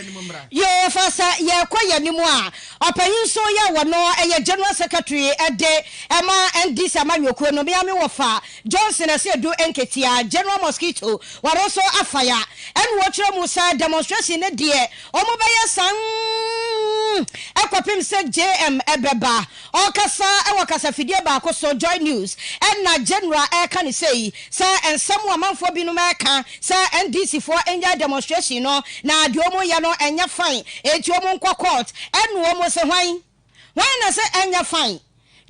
Yehofa sɛ yɛkɔ yɛn anim a, ɔpanyin nso yɛ wɔ no yɛ General Secretary de ma NDC amanyɔkuo no. Me ara me wɔfa Johnson Asiedu Nketia, General Mosquito, ɔno nso afa ya. Ɛna wɔkyerɛ mu sɛ demonstration no deɛ wɔbɛyɛ saa nn kɔpem sɛ JM bɛba. Ɔrekasa wɔ kasafidie baako so, Joy News, ɛna General reka no sei, sɛ nsɛm a amanfoɔ binom reka sɛ NDC foɔ nnyae demonstration no, na deɛ wɔn reyɛ no ɛnyɛ fine, enti wɔn nkɔ court, ɛna wɔn se hwan? Hwan na se ɛnyɛ fine?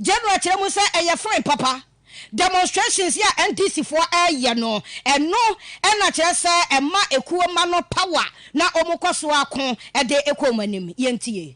General kyerɛ mu sɛ ɛyɛ fine papa, demonstrations yi a NDC foɔ reyɛ no, ɛno na kyerɛ sɛ ɛma ekuo mma no power na wɔn kɔ so ako de kɔ wɔn anim. Yɛntie.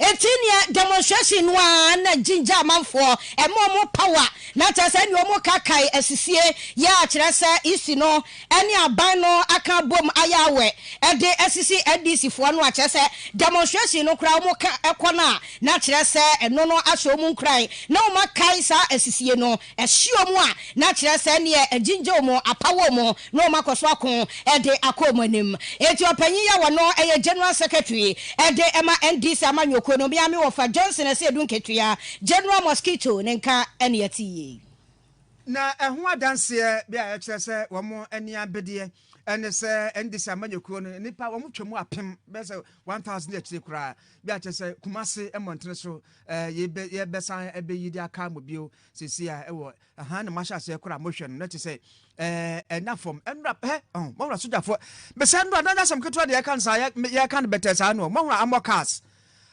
Eti nea demonstration no ara na ginger amanfoɔ, ɛma wɔn power, na kyerɛ sɛ ɛnneɛ wɔn ka kae asisie yɛ a kyerɛ sɛ Ec no ɛne aban no aka abom ayɛ awɛ ɛde asisi NDC foɔ no a kyerɛ sɛ demonstration no koraa wɔn ka ɛkɔ no a na kyerɛ sɛ ɛno no ahyɛ wɔn nkuran na wɔn akae saa asisie no ɛhye wɔn a, na kyerɛ sɛ ɛnneɛ agyingye wɔn, apa wɔn, na wɔakɔ so ako de akɔ wɔn anim. Enti ɔpanyin yi a ɔno yɛ General Secretary de ma NDC amanyɔkuo no, me ara me wɔfa Johnson Asiedu Nketua, General Mosquito, ne nka na yɛte yei. Na ɛho adanseɛ bi a ɛkyerɛ sɛ wɔn ani abedeɛ ne sɛ NDC amanyɔkuo no nnipa wɔtwa mu apem, bɛyɛ sɛ 1000 akyire koraa, bi a kyerɛ sɛ Kumasi mmɔntene so Eh, yɛbɛ, yɛbɛsan abɛyi de aka mo bio seesei a ɛwɔ, ahaa, na moahyɛ aseɛ koraa mohwɛ no, na te sɛ, eh, ɛna fam, ɛnora, hɛ, ɔho, moahora sogyafoɔ, mesɛ ɛnora, na nyɛ asɛm ketewa deɛ yɛka no saa, yɛ, me, yɛka no bɛtɛɛ saa no, moahora amɔ cars,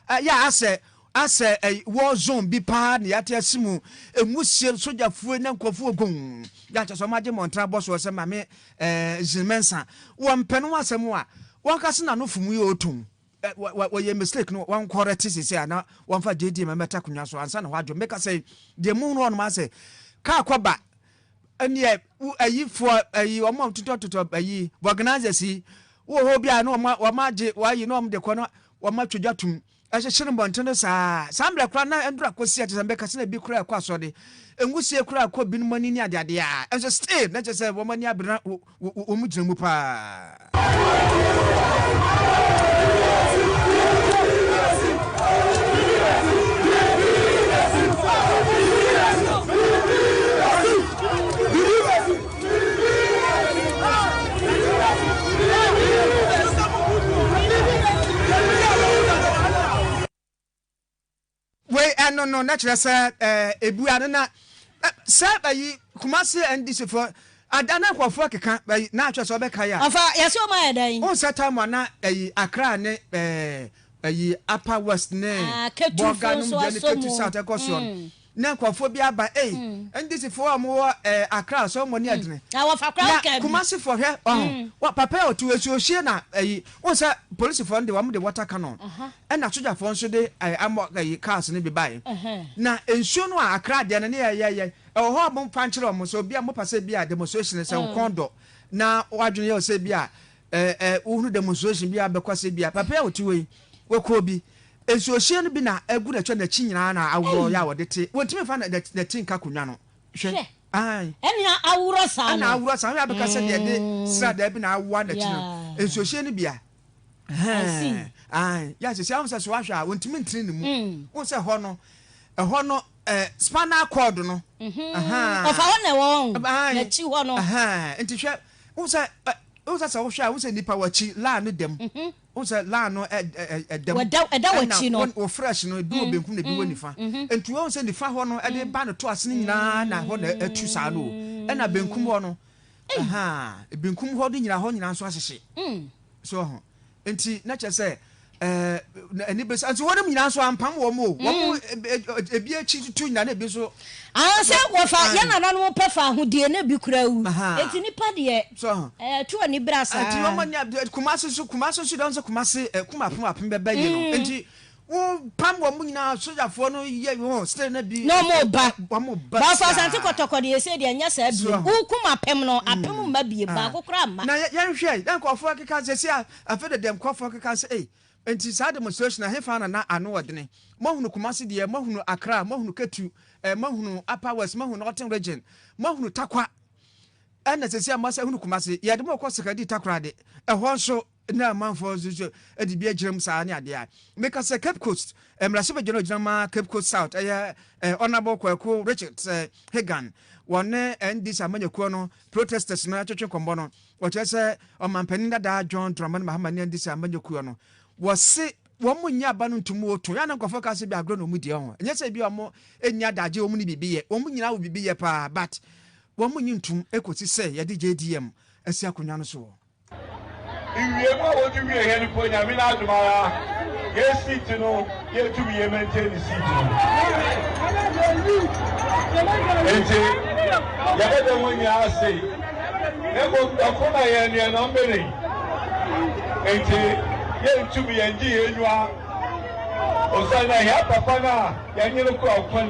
eh, yɛ asɛ, asɛ, eh, war zone bi paa na yɛate ase mu, ɛmu sie sogyafoɔ na nkurɔfoɔ gong, yɛ akyɛ sɛ ɔmagye mmɔntra bɔ soɔ sɛ mame, eh, zinmensa, wɔmpɛ no ho asɛm a, wɔnkase na no fom yi ɔɔtom. Ɛ wa wa wɔyɛ mistake no wɔn kɔrɛte sese a na wɔn fa JDM mmɛta akonnwa so ansa na hɔ adwo mmeka sɛ deɛ mu hunu hɔ nom asɛ kaa kɔba ɛneɛ wo ɛyi foɔ ɛyi wɔn a totɔ totɔ ɛyi organizers yi wɔ hɔ bi a na wɔn wɔn agye wɔayi na wɔn de kɔ na wɔn atwedwa tum ɛhyehyɛ no bɔnten no saa saa mmerɛ koraa na ndoro akɔsi a kyɛ sɛ mbɛka sɛ na bi koraa ɛkɔ asɔre nwosie koraa ɛkɔ binom ani ne adeadeɛ a ɛnso still na kyɛ sɛ wɔn ani abere na wɔgyina mu paa. Wei ɛno no na kyerɛ sɛ ɛɛ ebua no na ɛ sɛ ɛyi Kumasi NDC fo ada na nkurɔfoɔ keka ɛyi na kyerɛ sɛ ɔbɛka yɛ a. Ɔfa yɛsɛ ɔmo ayɛ dɛn. Wohu sɛ time a na ɛyi Accra ne ɛɛ ɛyi Upper West ne Bolga nom deɛ ne Ketu South ɛkɔ soɔ no na nkurɔfoɔ bi aba ei NDC foɔ a ɔmo wɔ ɛɛ Accra ɔsɛ ɔmo ani ɛdene na Kumasi foɔ hwɛ ɔho papa a ɔte hɔ nsuo hwie na ɛyi wohu sɛ Polisifoɔ no deɛ ɔmo de water cannon Ɛna sogyafoɔ nso de ɛɛ amɔ ɛyi cars no bi baeɛ. Na nsuo no a Accra deɛ no ne yɛ yɛ yɛ ɛwɔ hɔ a mo nfa nkyerɛ wɔn sɛ obi a mo pɛ sɛ bi a demonstration sɛ wo kɔn dɔ na w'adwene yɛ wo sɛ bi a ɛɛ ɛɛ wo hunu demonstration bi a bɛkɔ sɛ bi a papa yi a ɔte hɔ yi w'ɛkɔ bi nsuo hyɛn no bi na agu n'akyi n'akyi nyinaa na aworɔ yɛ a wɔde te wɔn ntumi nfa na na na ti nka akonwa no hwɛ ae ɛna aworɔ saa no ɛna aworɔ saa no yɛ a bɛka sɛ deɛ de sradaa bi na awoa n'akyi no nsuo hyɛn no bi a. yɛsɛ sɛ ahun sɛ so ahwɛ a wɔntumi ntene ne mu wɔn sɛ hɔ no ɛhɔ no spinal cord no ɔfa hɔ na ɛwɔ hɔ n'akyi hɔ no nti hwɛ wɔn sɛ wɔn sɛ sɛ wɔhwɛ a wɔn sɛ nipa wɔ akyi laa no dɛm wɔn sɛ laa no ɛdɛm ɛda wɔ akyi no wɔ fresh no ebi wɔ benkum na ebi wɔ nifa nti wɔn sɛ nifa hɔ no ɛde ba no to ase no nyinaa na hɔ na ɛtu saa no ɛna benkum hɔ no. Ei! Benkum hɔ de nyina hɔ nyina nso ahyehye. Mm. So ɔho. Nti na kyerɛ sɛ ɛɛ ɛni bɛ sɛ nso wɔn nyina nso ampam wɔn o. Wɔn mm. ebi akyi tutu nyina na ebi nso. Aha sɛ wɔfa yɛn nananom pɛ fa ahodie na ebi kura wu. Eti nipa deɛ. So ɔho. Ɛɛ tu ani bere asa. Nti wɔn nya kumase so kumase so dɔn sɛ kumase ɛ kuma apem apem bɛbɛ yɛ no. Nti Wɔpam wɔn nyinaa, sogyafoɔ no yɛ wɔn sɛ na bi. Na wɔn ba. Wɔn ba saa. Nanso Asante Kɔtɔkɔ deɛ ɛsɛ deɛ ɛnyɛ saa bio. Wokum apem no, apem mma bie, baako koraa mma. Na yɛnhwɛ, na nkurɔfoɔ keka sɛ sɛ afei de deɛ nkurɔfoɔ keka sɛ ei, nti saa demonstration ɛhefa na na ano wɔ dene? Moahunu Kumasi deɛ, moahunu Accra, moahunu Ketu, eh, moahunu Upper West, moahunu Northern Region, moahunu Tarkwa, ɛna sɛ sɛ moasa hunu Kumasi, yɛde mo kɔ Sekadi Takoradi, ɛhɔ nso. na amanfoɔ nso nso de bi agyina mu saa ne adeɛ a meka sɛ Cape Coast eh, mmarahyɛbadwa no gyina ma Cape Coast South ɛyɛ eh, eh, Honourable Kwaku Richards eh, Hagan wɔne NDC amanyakuo no protesters no atwetwe nkɔmmɔ no wɔkyerɛ sɛ ɔmampanin dadaa John Dramani Mahama ne NDC amanyakuo no wɔse wɔn mo nyɛ aba no ntum wɔ to yɛn nkorɔfoɔ ka sɛ bi agorɔ na wɔn di ho ɛnyɛ sɛ bi wɔn mo nyɛ adagye wɔn ne biribi yɛ wɔn nyinaa wɔ biribi yɛ paa but wɔn mo nyɛ ntum ekosi sɛ yɛde JDM asi akonnwa no so wɔ. Iwie mu a wodzi wie hɛn mpo Nyame n'adom ara hɛn seat no yeetum ye maintain seat no. Ntsi yɛbɛda hɔn nyina ase na mbom dɔfo na hɛn deɛ na ɔmmbene hɛn ntsi yenntum yɛnngye hɛn enyiwa osiandɛ hɛn papa no a yɛnye no kura kwan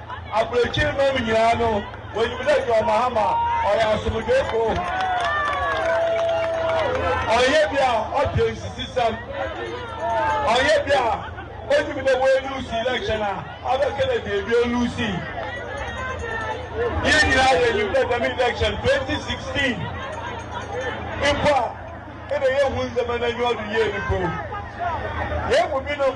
Aburokyir man nyina no wonyim dɛ John Mahama ɔyɛ asomdwee kurow. Ɔnnyɛ bi a ɔdwen nsisisɛm, ɔnnyɛ bi a onyim dɛ oeluusi election a abɛka dɛ beebi oluusii. Hɛn nyina yenyim dɛ dɛm election 2016 mpo a nna yennhu ndzɛmba n'enyiwa do yie no mpo, hɛn mu binom,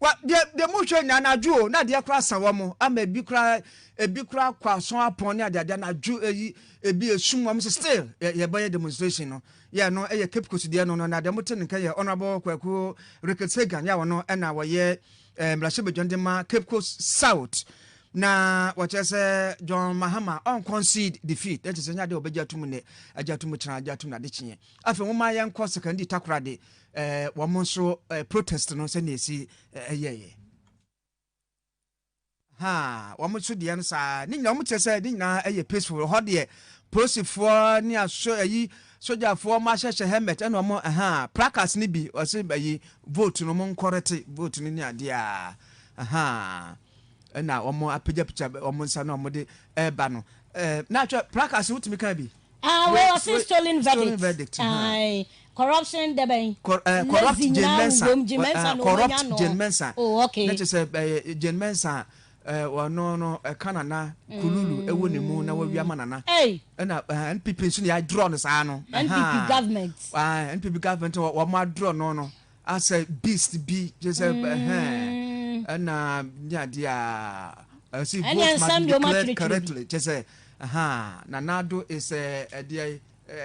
Wa deɛ deɛ mo hwɛ nyinaa anadwo o na adeɛ koraa asa wɔn ama ebi koraa ebi koraa kɔ asɔn apɔn ne adeade anadwo eyi ebi esum wɔn sɛ still yɛ yɛbɛyɛ demonstration no yɛ no ɛyɛ Cape Coast deɛ no no na deɛ mo te no nka yɛ honourable Kwaku Ricketts Hagan yɛ a wɔn ɛna wɔyɛ ɛɛ mmarahyɛbadwa no de ma Cape Coast South na wɔkyerɛ sɛ John Mahama ɔn concede defeat ɛkyɛ sɛ nyɛ adeɛ wɔbɛgye atum nnɛ agye atum kyerɛ agye atum na ade kyeɛ. Afei momma yɛnkɔ Sekondi Takoradi wɔn nso protest no sɛnea ɛsi yɛeɛ. Ha, wɔn nso deɛ no saa, ne nyinaa wɔn kyerɛ sɛ ne nyinaa yɛ peaceful. Hɔ deɛ polisifoɔ ne aso ayi sogyafoɔ wɔn ahyehyɛ helmet ɛna wɔn ɛha placards no bi wɔsi ayi vote no wɔn nkɔrɛte vote no ne adeɛ a ɛha ɛna wɔn apagyapagya wɔn nsa na wɔn de ɛreba no ɛɛ na atwa placards no wotumi kan bi. Ah wei ɔse stolen verdict ae corruption dɛbɛn lazy nyinaa wowom Jane Mensah no wɔnya no Jane Mensah oh okay ne kyesɛ ɛyɛ Jane Mensah ɔno no ɛka nana kululu ɛwɔ ne mu na wɔwia ma nana ɛna NPP nso ne yɛadrɔ no saa no NPP government NPP government wɔn adrɔ no no asɛ beast bi gye sɛ ɛhɛn mm. ɛna ne adeɛ a ɛsi vote ma declare correctly kyɛ sɛ na nado is ɛdeɛ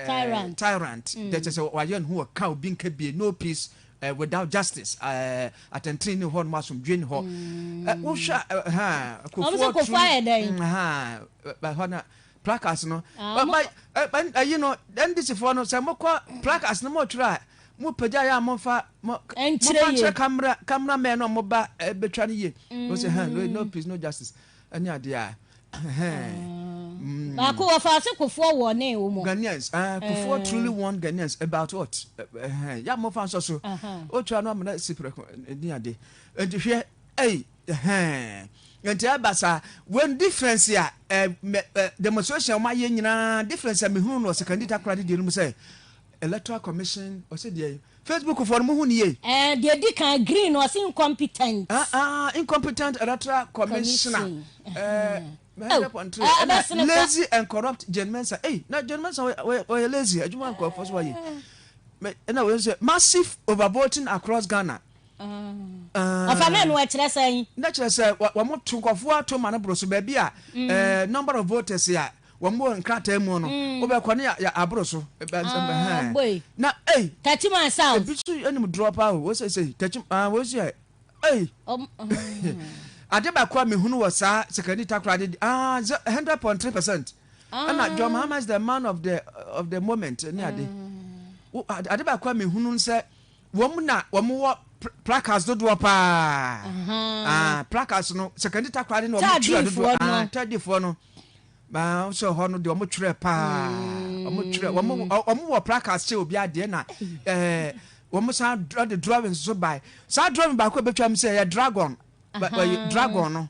tyrant tyrant kyɛ mm. sɛ wayɛ ne ho ɔka obi nka bie no peace uh, without justice eh, atɛntene ne hɔ nom asomdwe ne hɔ mm. eh, wohwɛ kofoɔ tru mm, hɔ na Placards no, ba, ba, ba, ayi no, NDC foɔ no, sɛ mo kɔ placards no mo twerɛ a, mo pagya yɛ a mo nfa, mo, mo fa nkyerɛ camera, camera man no mo ba eh, betwa no yie. Mo sɛ, hɛn, no, no peace, no justice, ɛne adeɛ a, hɛn. Mm. Baako wɔ faase kofoɔ wɔ ne wo mo. Ghanaians, ah, kofoɔ truly warned Ghanaians about what? Hɛn, yɛ a mo nfa nsɔ so. O twerɛ no amena si prɛko, ɛne adeɛ. Ɛnti hwɛ, ɛyi. Ɛhɛɛn nti ɛba saa when difference a ɛ mɛ ɛ demonstration a wɔn ayɛ nyinaa difference a mehunu no ɔsekandi takora de deɛ no mu sɛ electoral commission ɔsɛ deɛ facebook foɔ no mo hu no yie. Ɛɛ deɛ di kan green no ɔse incompetent. Ah ah incompetent electoral commissioner ɛɛ hundred point three ɛna lazy and corrupt Jane Mensah ei na Jane Mensah ɔyɛ ɔyɛ lazy adwuma nkorɔfoɔ so wayɛ mɛ ɛna wei nso yɛ massive over voting across Ghana Ɔfa maa no ɛkyerɛ sɛn? Na kyerɛ sɛ wɔn to nkɔfoɔ ato ma no boro so baabi a mm. number of voters a wɔn bɔ nkrataa mu no mm. wobɛkɔ ne aboro so ah, na ei Tachima South ebi so anim dorɔ paa o wɔsɛ sɛ Tachima ah, wɔsi ɛ ei um, um. ade baako a mehunu wɔ saa sekani takora de ah hundred point three percent ɛna John Mahama is the man of the of the moment ne ade mm. ade baako a mehunu sɛ wɔn na wɔn wɔ placards dodoɔ paa placards no secondary takora de na wɔn twerɛ dodoɔ tadifoɔ no maa sɛ hɔ no deɛ wɔn twerɛ paa wɔn twerɛ wɔn wɔ placards sɛ obi adeɛ na ɛɛ wɔn san de drawings so bae saa drawing baako a ebetwa mu sɛ ɛyɛ dragon dragon no.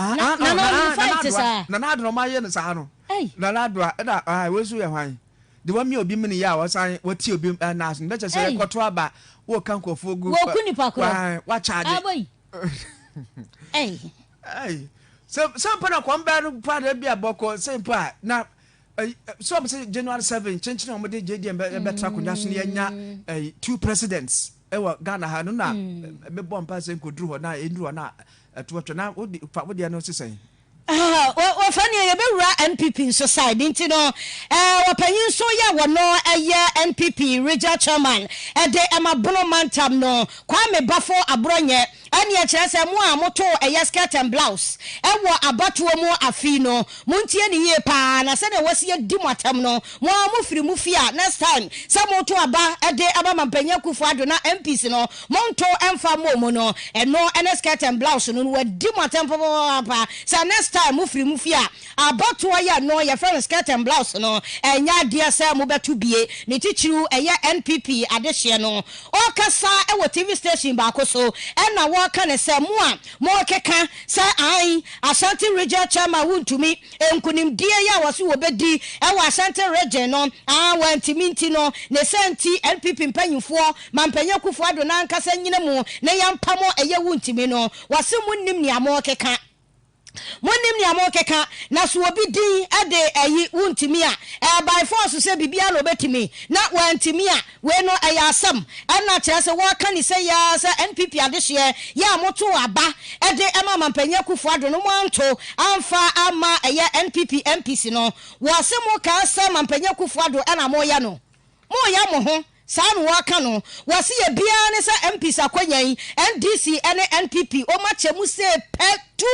Ah, Na- ah, Nana oh, Ɔdun, fa Nana ete Adoa. saa. Nana Adoa, ɔmo ayɛ no saa no. Ei. Nana Adoa, ɛna ah, wei nso yɛ hwan? De wamia obi mini yɛ a wɔsan wɔti obi ah, nas no. Bɛkyɛ sɛ Ei. yɛkɔto aba, wɔka nkurɔfoɔ gu. Wɔku ah, nipa korɔ. wa- Wakyagye. Aboi. Ei. Ei, sɛ sɛ mpo na kɔm bɛɛ no pa na ebi a bɔkɔ sɛ mpo a na ɛyi, ɛ, sɛ ɔmo sɛ January seven kyenkyen a ɔmo de JDM bɛ bɛtra akonnwa so na yɛnya ɛyi two presidents. Ɛwɔ Ghana ha no na me bɔ mpa sɛ nkoduru hɔ na ɛnuru hɔ na ɛtoɔtɔ na wode fa wodeɛ no se sɛn? Wɔfa neɛ yɛbɛwura NPP nso side nti no eh, wɔpanyin nso yɛ wɔno ɛyɛ NPP Regional Chairman ɛde ɛma Bono Mantam no Kwame Bafo Aborɔnyɛ. Ɛnneɛ kyerɛ sɛ mo a motoo ɛyɛ skirt and blouse wɔ abatoɔ mu afei no, montie no yie pa ara na sɛdeɛ wɔasi adi mo atam no, mo ara mofiri mo fie a next time sɛ moreto aba de ama Mampanyin Akuffo Addo na MPs no, monto mfa mmɔ mu no, ɛno ne skirt and blouse no, na wɔadi mo atam papaapa sɛ next time mofiri mo fie a, Abatoɔ yɛ no yɛfrɛ no skirt and blouse no ɛnyɛ adeɛ sɛ mo bɛto bie ne titiriw ɛyɛ NPP adehyeɛ no ɔɔkasa wɔ TV station baako so ɛna wɔɔka no sɛ mo a mookeka sɛ ae Ashanti region chairman wontumi nkunimdie yi a wɔse wɔbɛdi wɔ Ashanti region no aa wɔantumi nti no ne saa nti NPP mpanyinfoɔ Mampanyin Akuffo Addo nankasa nyina mu na yɛmpamo ɛyɛ wontumi no wɔse monnim nea mookeka Monnim nea morekeka, na so obi din de ayi, wontumi a, ɛyɛ by force sɛ biribiara na obetumi, na wantumi a, wei no ɛyɛ asɛm. Ɛnna kyerɛ sɛ wɔreka ne sɛi ara sɛ NPP adehyeɛ yɛ a motoo aba de ma Mampanyin Akuffo Addo no moanto amfa amma ɛyɛ NPP MPs no. Wɔse mokaa sɛ Mampanyin Akuffo Addo na moreyɛ no. Moreyɛ mo ho Saa na wɔka no. Wɔse yɛ biara ne sɛ MPs akwanya yi, NDC ne NPP wɔn akyɛ mu sei pɛ tu.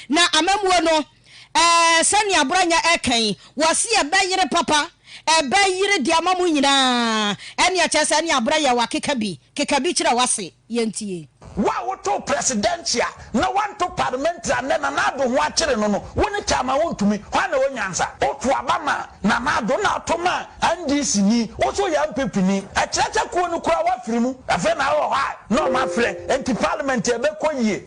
Na amammuo no, eh, sɛnea Branya ɛka yi, wɔse ɛbɛyere papa, ɛbɛyere de ama mo nyinaa. Ɛnneɛ kyerɛ sɛ ɛnneɛ Abranya wakeka bi, keka bi kyerɛ w'ase. yɛntie. Wo a wotoo prɛsidɛnkyea na woanto palemɛntri a nnɛ Nana Addo ho akyere no no, wo ne Chairman wontumi, hwan na ɛwɔ nyansa? Woto aba maa Nana Addo na ato maa NDC ni, wo nso woyɛ NPP ni, ɛkyerɛ sɛ kuo no koraa woafiri mu, afei na wowɔ hɔ a na wɔafrɛ, enti parliament ɛbɛkɔ yie.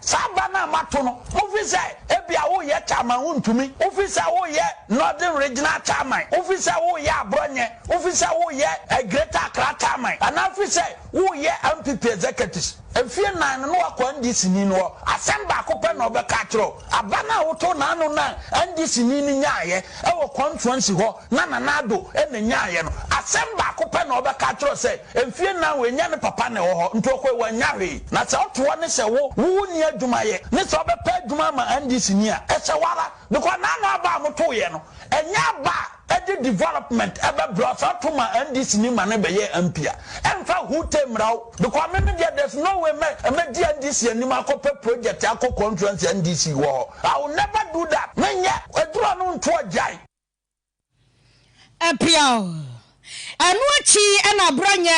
Saa aba no a moato no, mofi sɛ ebia woreyɛ Chairman wontumi, wofi sɛ woreyɛ Northern Regional Chairman, wofi sɛ woreyɛ Aborɔnyɛ, wofi sɛ woreyɛ Greater Accra Chairman, anaa wofi sɛ woreyɛ NPP Executives. Mfeɛ nnan no na woakɔ NDC-ni no hɔ, asɛm baako pɛ na ɔbɛka akyerɛ wo, aba no a wotoo n'ano no a NDC-ni no nyaaeɛ wɔ constuency hɔ na Nana Addo na nyaaeɛ no, asɛm baako pɛ na ɔbɛka akyerɛ wo sɛ, Mfie nnan oennya ne papa na ɔwɔ hɔ nti ɔkɔe oannya hwee. Na sɛ ɔto hɔ ne sɛ wo, wo wo nni adwuma yɛ ne sɛ ɔbɛpɛ adwuma ama NDC ni a, ɛsɛ wo ara. Because n'ano aba a motoeɛ no, ɛnyɛ aba a ɛde development bɛbrɛ wo. Sɛ ɔto ma NDC ni ma no bɛyɛɛ MP a, ɛmfa who te mmra wo. Because me me deɛ there's no way mɛ, mɛdi NDC anim akɔpɛ project akɔ constituency a NDC wɔ hɔ. I will never do that. Menyɛ. Aduru ano nto agyae. Ɛpeaw. Ɛno akyi na Brɔnyɛ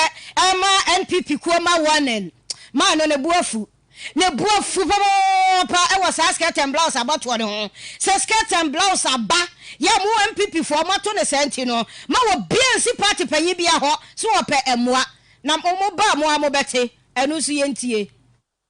ma NPP kuo ma warning maa no. Ne bo afu. Ne bo afu papaapa wɔ saa skirt and blouse abɔtoɔ no ho. Sɛ skirt and blouse aba yɛ a mo NPP foɔ moato no saa nti no ma obiara nsi party panyin biara hɔ so ɔpɛ mmoa. Na mo ba a mo ara mobɛte ɛno nso yɛntie.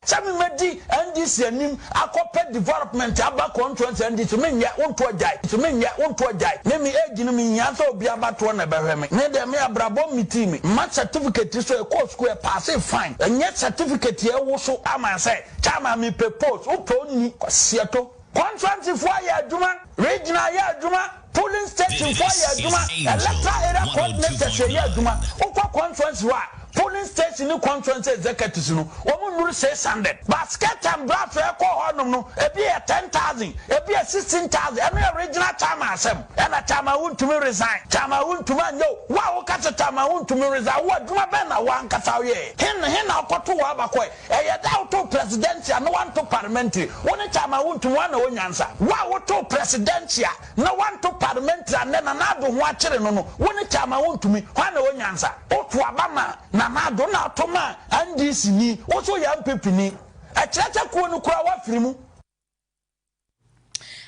Sɛ me mɛdi NDC anim akɔ pɛ development aba contuency NDC me nyɛ wo ntoɔ gyae NDC me nyɛ wo ntoɔ gyae me me age no me nhia sɛ obi aba toɔ na ɛbɛhwɛ me me deɛ me abrabɔ mmetii me mma certificate so ɛkɔɔ school ɛpaasee fine ɛnyɛ certificate ɛwoso ama sɛ chairman me pɛ post wo pɛ onni kwasiato. Kɔntrantefo ayɛ adwuma, Regional ayɛ adwuma, Polling Station fo ayɛ adwuma, Electoral Area Coordinators ɛyɛ adwuma. Wokɔ Conference hɔ a, Polling Station ne Conference Executives no, wɔn nnuru six hundred. But Skirt and Blouse a ɛkɔ hɔ nom no, ebi yɛ ten thousand, ebi yɛ sixteen thousand. Ɛno yɛ Regional Chairman asɛm. Ɛna Chairman wontumi resign, Chairman wontumi anyɛ o. Wo a woka sɛ Chairman wontumi resign, wo adwuma bɛn na wo ankasa woyɛɛ? Hen, hen na ɔkɔto wo aba kɔe? Ɛyɛ dɛ a wotoo presidential na woanto parliamentary. Wo ne Chairman Wuntu hwan na ɔwɔ nyansa? Wo a wotoo presidential na woanto parliamentary a nnɛ Nana Addo ho akyere no no, wo ne Chairman Wontumi hwan na ɔwɔ nyansa? Woto aba maa Nana Addo na ato maa NDC ni, wo nso woyɛ NPP ni. Ɛkyerɛ sɛ kuo no koraa woafiri mu.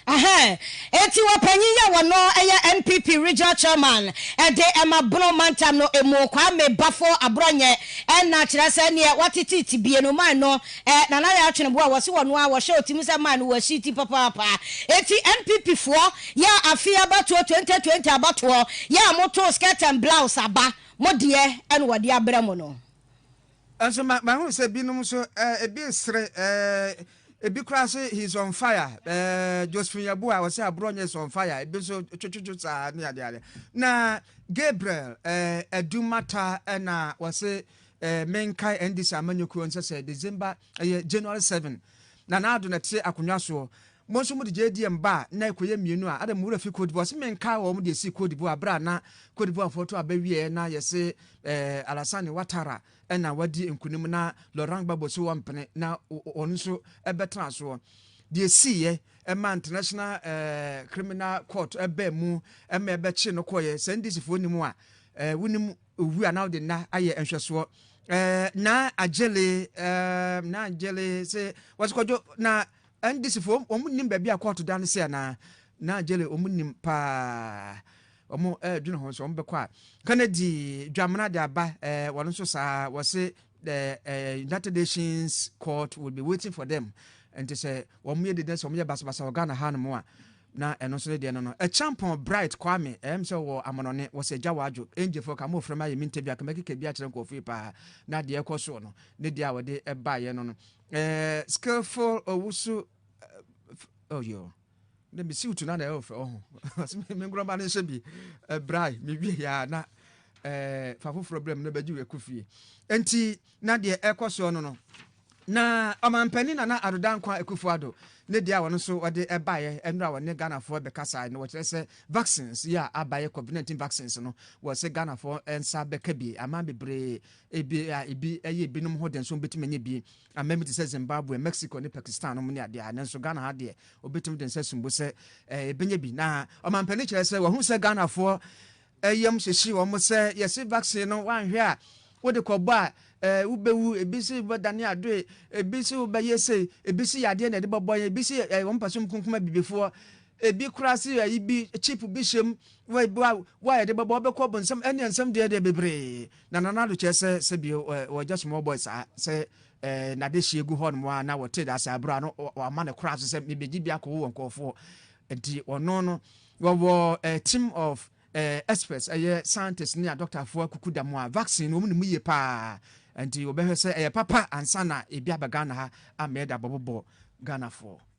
Eti wɔ panyin yi a wɔno yɛ NPP Regional Chairman de ma Bono Mantam no mu, Kwame Bafo Aborɔnyɛ na kyerɛ sɛ neɛ watete tibie no mine no Nana Yaw Tweneboa wɔse wɔno ara wɔhyɛ ɔtim sɛ mine no wɔasi ti papaapa eti NPP foɔ yɛ afe abatoɔ 2020 abatoɔ yɛ a motoo skirt and blouse aba mo deɛ na wɔde abrɛ mo no. Nso ma mahu sɛ binom nso eh, ebi resere eh, ebi koraa nso he is on fire eh, Josephine Yeboah ɔsɛ aborɔ nyɛ is on fire ebi nso twetwetwe saa ne adeade na Gabriel eh, Adumata ɛna wɔse eh, menkae NDC amanyɔkuo nsɛ sɛ December ɛyɛ January 7 na naado na ɛte akonnwa soɔ Mo nso mode JDM ba a, na ɛkɔyɛ mmienu a, adɛn mo werɛ fi Cote d'Ivoire? Ɔse menkaa wɔn de sii Cote d'Ivoire berɛ a na Cote d'Ivoire foɔ to aba wieɛ na yɛse eh, Alassane Ouattara ɛna wadi nkunim na Laurent Gbagbo se wɔmpene na wɔn nso ɛbɛtena soɔ. Deɛ siiɛ ɛma International eh, Criminal Court ɛbaa mu ɛma ɛbɛkye no kɔeɛ. Sɛ NDC foɔ nim a, eh, wonim owu a na wode nna ayɛ nhwɛsoɔ. Eh, na agyele, eh, na agyele se wɔse kɔdwo na NDC foɔ wɔn nnim baabi a kɔɔto da no sɛ anaa? Naa Gyele wɔn nnim paa wɔn ɛɛdwene ho sɛ wɔn bɛkɔ a Kennedy Dwamena de aba ɛɛ wɔn nso saa wɔse ɛɛ ɛɛ United Nations court will be waiting for them nti sɛ wɔn yɛ dede sɛ wɔn yɛ basabasa wɔ Ghana ha nom a na ɛno nso ne deɛ no no ɛkyampɔn Bright Kwame ɛɛm sɛ wɔ amanɔne wɔsɛ gya wadwo ɛngyefoɔ ka mofrɛ ma yɛ mintɛ bi a kama keka bi akyerɛ nkɔɔfo yi paa na deɛ ɛkɔ soɔ no ne deɛ a wɔde ɛbaayɛ no no Eh, skillful owusu oh yo na mesi utu na na ɛyɛ ɔfɛ ɔho ɔsɛ me me nkorɔba no nhyɛ bi ɛbrae mewie yɛ a na eh, fa foforɔ berɛ mu na bɛgye wɔ ɛkɔ fie nti na deɛ ɛkɔ soɔ no no na ɔmampanin nana adoda nkwa akufo ado ne deɛ a wɔn nso wɔde ɛbaeɛ ɛnora wɔne ghanafoɔ bɛkasae no wɔkyerɛ sɛ vaccines yi a abaeɛ covid-19 vaccines no wɔ sɛ ghanafoɔ nsa bɛka bi aman bebree Ebia ebi yɛ ebinom ho den, so wobetumi anya bi? Aman bi te sɛ Zimbabwe, Mexico, ne Pakistan nom ne ade a, nanso Ghana ha deɛ, obetumi de nsa sum bo sɛ ebenya bi. Na ɔmampanin kyerɛ sɛ wahu sɛ Ghanafoɔ yam hyehye wɔn sɛ yɛse vaccine no wanhwɛ a wode kɔbɔ a eh, wobɛwu ebi se wobɛdane adoe ebi se wobɛyɛ sei ebi se yadeɛ na ɛde bɛbɔ yɛn ebi se eh, wɔn mpɛ so mkunkum abibifoɔ ebi koraa se ayi bi chip bi hyɛm wa wa yɛde bɛbɔ wobɛkɔ bonsam ɛne nsɛm deɛ deɛ bebree Na Nana Addo kyerɛ sɛ sɛbi ɔgya small boy saa sɛ nade hyeɛ gu hɔ nom a na wɔte da ase abura no wɔama no koraa so sɛ mebɛgye bi akɔwo wɔ nkurɔfoɔ nti ɔno no wɔwɔ team of experts ɛyɛ scientists ne a doctorfoɔ akuku da mu a vaccine wɔn ne mu yie paa nti wɔbɛhwɛ sɛ ɛyɛ papa ansa na ebi aba Ghana ha amɛɛda bɔbɔbɔ Ghanafoɔ.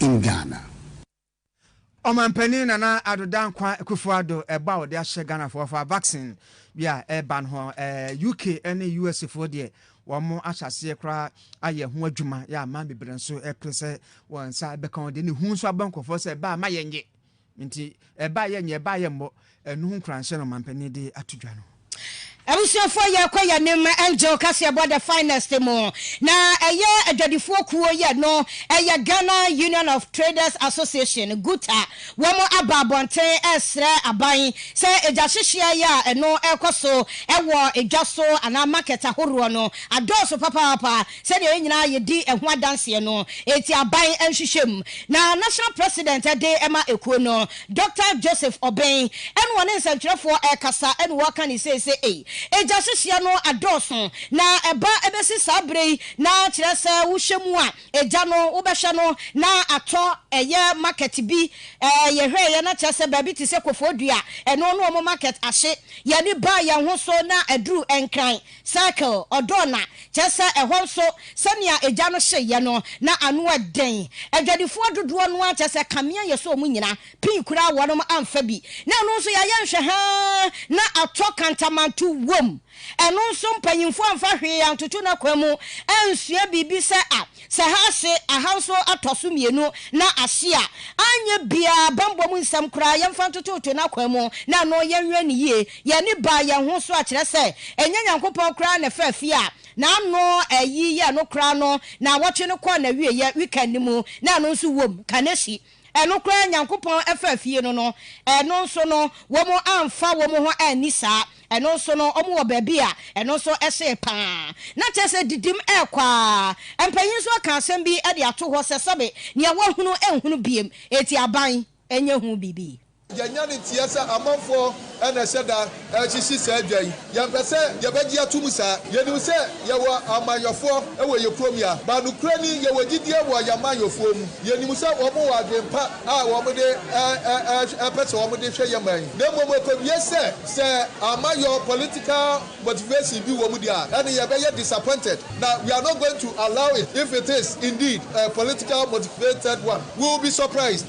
in Ghana. Ɔmanpanin Nana Addo Dankwa Akufo Addo ɛbɔ a ɔde ahyɛ Ghanafoɔ fa vaccine bi a ɛreba no ho. UK ne US foɔ deɛ wɔn ahyɛ aseɛ koraa ayɛ ɛho adwuma, yɛ aman bebree nso ɛpere sɛ wɔn nsa bɛka ho deɛ ne hu nso abɔ nkorɔfoɔ sɛ ɛbaa ma yɛnnye Nti ɛba yɛ nyɛ ɛba yɛ mmɔ ɛno ho nkuranhyɛ na ɔmanpanin de ato dwa no. Abusuafoɔ yɛ kɔ yɛ nim Angel kaseɛbɔ the finest mu na ɛyɛ adwadifoɔ kuo yɛ no ɛyɛ Ghana Union of Traders Association GUTA wɔn aba abɔnten ɛresrɛ aban sɛ ɛgya hyehyeɛ yɛ a ɛno ɛrekɔ so ɛwɔ ɛdwa so anaa market ahoroɔ no adɔɔso papaapa Sɛnea yɛn nyinaa yedi ɛho adanseɛ no, enti aban nhwehwɛmu na National President de ma ekuo no. Doctor Joseph Obeng ɛna ɔne nsɛntwerɛfoɔ rekasa ɛna ɔreka ne sei sɛ, Ei, egya hyehyeɛ no adɔɔso, na ɛba ɛbɛsi saa berɛ yi na kyerɛ sɛ wohwɛ mu a, egya no wobɛhwɛ no na atɔ ɛyɛ market bi, ɛɛ yɛhwɛeɛ na kyerɛ sɛ baabi te sɛ Kofoɔdua, ɛno ne wɔn market ahye, yɛn ani baa yɛn ho so na aduru Nkran, Circle, ɔdɔ na, kyerɛ sɛ ɛhɔ nso sɛnea egya no hyeeɛ no, na ano yɛ den. Adwadifoɔ dodoɔ no ara kyerɛ sɛ kanea yɛ sɛ wɔn nyinaa, pii koraa wɔnom amfa bi. Na ɛno nso yɛayɛ nhwɛha ara na atɔ kantamanto wom. Ɛno nso mpanyimfoɔ amfa hwee antoto n'akwan mu ansua biribi sɛ a Sɛ haase ahanson atɔ so mmienu na ahye a, anyɛ biara, bammɔ mu nsɛm koraa, yɛmfa ntototo n'akwan mu na ɛno yɛnwɛn no yie. Yɛn ani baa yɛn ho so a, kyerɛ sɛ, ɛnyɛ Nyankopɔn koraa na ɛfaa fie a n'ano ayi yɛɛ no koraa no, naawɔtwe no kɔɔ n'awieeɛ, weekend, no mu, na ɛno nso wom, Kaneshie. Ɛno koraa Nyankopɔn faa fie no no, ɛno nso no, wɔn amfa wɔn ho anni saa. Ɛno nso no, wɔn wɔ baabi a ɛno nso hyee pa ara. Na kyerɛ sɛ didim rekɔ ara. Mpanyin nso aka asɛm bi de ato hɔ sɛ sɛbe nea wahunu nhunu bio, enti aban nyɛ hu biribi. Yɛanya no nteɛ sɛ amanfoɔ na ɛhyɛ da hyehye saa dwa yi. Yɛmpɛ sɛ yɛbɛgye atom saa. Yɛnim sɛ yɛwɔ amanyɔfoɔ wɔ yɛn kurom ya, but nokorɛ ni yɛwɔ gyidie wɔ yɛn amanyɔfoɔ mu. Yɛnim sɛ wɔn wɔ adwene pa a wɔn de pɛ sɛ wɔn de hwɛ yɛn man yi. Na mmom ɛkɔwie sɛ, sɛ amayɔ, political motivation, bi wɔ mu deɛ a, ɛne yɛbɛyɛ disappointed. Na we are not going to allow it if it is indeed a political motivated one. We will be surprised.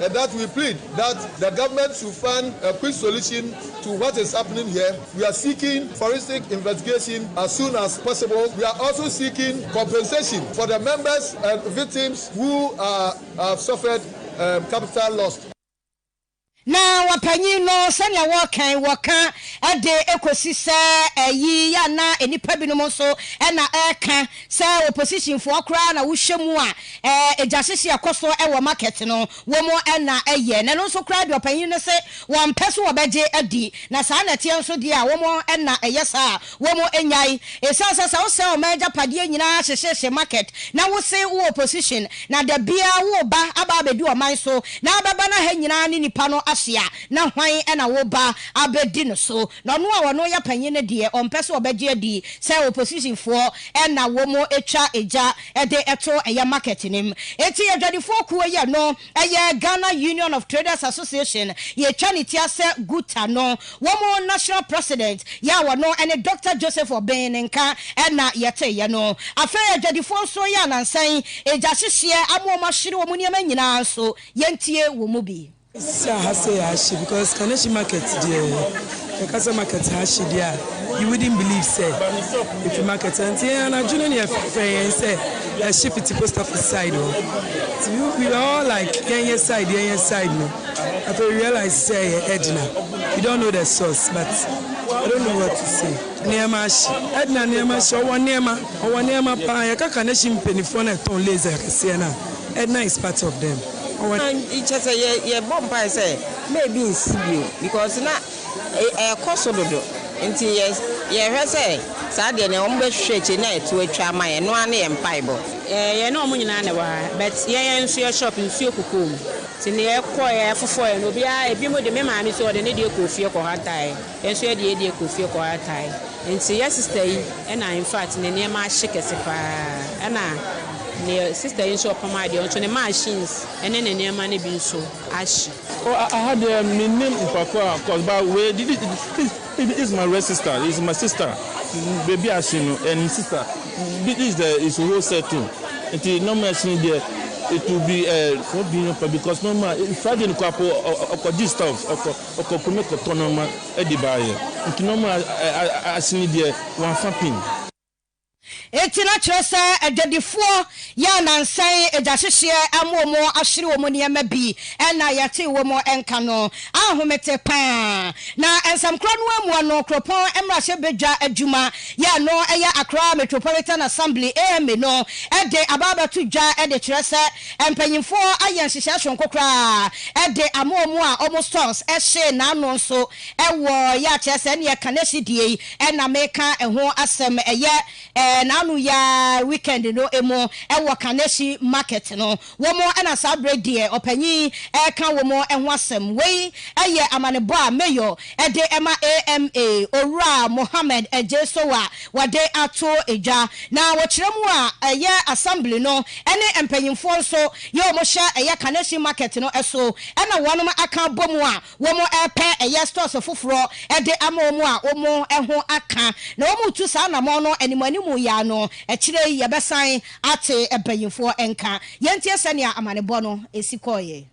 and that we plead that the government should find a quick solution to what is happening here. We are seeking forensic investigation as soon as possible. We are also seeking compensation for the members and victims who are have suffered um, capital loss. na wɔpanyin no sɛnea wɔkan wɔka de ekosi sɛ ɛyi yɛ na nnipa binom nso na ɛka sɛ oppositionfoɔ koraa na wohyɛ mu a Ɛɛ egya hyehye a ɛkɔ so wɔ market no wɔ mu na ɛyɛ na ɛno nso koraa deɛ ɔpanyin no se wɔmpɛ so wɔbɛgye adi na saa na ɛteɛ nso deɛ a wɔ mu na ɛyɛ saa a wɔ mu nyae ɛsiane sɛ sɛ wo sɛe ɔman agyapadeɛ nyinaa hyehyehye market na wo se wo opposition na da biara wo ba aba abɛdi ɔman so na abɛba na ha nyinaa ne nipa no ahye a na hwan na wo ba abɛdi no so na ɔno a ɔno yɛ panyin no deɛ ɔmpɛ so wɔbɛgye adi sɛ opposition foɔ na wɔ mu twa egya de to ɛyɛ market no mu. Enti adwadifoɔ kuo yɛ no ɛyɛ Ghana Union of Traders Association, yɛtwa ne ti asɛ Guta no, wɔn national president yɛ a ɔno ne Doctor Joseph Obeng ne nka na yɛteeɛ no. Afei adwadifoɔ nso yɛ anansa yi gyahyehyeɛ ama wɔn ahwere wɔn nneɛma nyinaa nso, yɛntie wɔn mu bi. Sisi a ha sɛ yɛahye because Kaneshie market deɛ yɛka sɛ market ha hye deɛ a you wouldn't believe sɛ ɛfiri market ha nti yɛn anadwo no ne yɛfrɛfrɛ yɛn sɛ ɛhye fiti post office side hɔ nti we were all like yɛnyɛ side yɛnyɛ side no afei we realize sɛ ɛyɛ Edna we don't know the source but I don't know what to say. Nneɛma ahye. Edna nneɛma ahye. Ɔwɔ nneɛma. Ɔwɔ nneɛma paa. Yɛka Kaneshie mpanimfoɔ no a ɛtɔn lace akɛseɛ no a, Edna is part of them. Ɔsan kyɛ sɛ yɛbɔ mpae sɛ mma ebi nsi bio because na ɛrekɔ so dodo nti yɛhwɛ sɛ saa deɛ nea wɔbɛhwehwɛ akyire no a ɛto atwa ama yɛn ɛno ara ne yɛn mpaebɔ. Yɛne wɔn nyinaa na ɛwɔ ha but yɛn yɛn nso yɛ shop nsuo kukuu mu nti nea ɛkɔeɛ ɛfofɔeɛ no obiara ebinom de me maame nso ɔde ne deɛ kɔɔ fie kɔhantaeɛ. Yɛn nso yɛde yɛ deɛ kɔ fie kɔ ara tae nti yɛ sister yi na infact ne nneɛma ahye kɛse paa ɛna neɛ sister yi nso ɔpam adeɛ ɔnso ne machines ne ne nneɛma no bi nso ahye. Oh aha deɛ mennim mpapo a cos ba wei de this is my red sister this is my sister baabi a ahye no ɛyɛ ne sister this is the is a whole set too nti nneɛma a ahye no deɛ it will be eh for being for because normal Friday no koraa po ɔkɔ gye stuff ɔkɔ. Ɔkɔko me kɔtɔ nɔma ɛde ba yɛ nti nɔma asini deɛ wanfa pin. Enti na kyerɛ sɛ agyadifoɔ yɛ anansan agyahyehyɛ ama wɔn ahwere wɔn nneɛma bi ɛna yɛtee wɔn nka no ahomete paa na nsɛm korɔ no amu no kuropɔn mmarahyɛ badwa adwuma yɛ ɛno ɛyɛ Accra Metropolitan Assembly AMA no ɛde aba abɛto dwa ɛde kyerɛ sɛ Mpanyimfoɔ ayɛ nhyehyɛɛ soronko koraa de ama wɔn a wɔn stores hyee n'ano nso wɔ yɛ a kyerɛ sɛ ɛne ɛka nɛsi deɛ yi na meka ɛho asɛm ɛyɛ n'ano yi ara weekend no mu wɔ Kaneshie market no wɔn na saa berɛ deɛ ɔpanyin reka wɔn ho asɛm wei yɛ amanebɔ a mayor de ma AMA Owura Mohammed Adjei Sow a wɔde ato dwa, na wɔkyerɛ mu a ɛyɛ Assembly no ne mpanyimfoɔ nso yɛ wɔn hyɛ ɛyɛ Kaneshie Market no so na wɔnom aka abɔ mu a wɔn repɛ ɛyɛ stores foforɔ de ama wɔn a wɔn ho aka na wɔn retu saa anamɔn no anim anim yi ara no akyire yi yɛbɛsan ate mpanyimfoɔ nka. Yɛntie sɛnea amanebɔ no si kɔeɛ.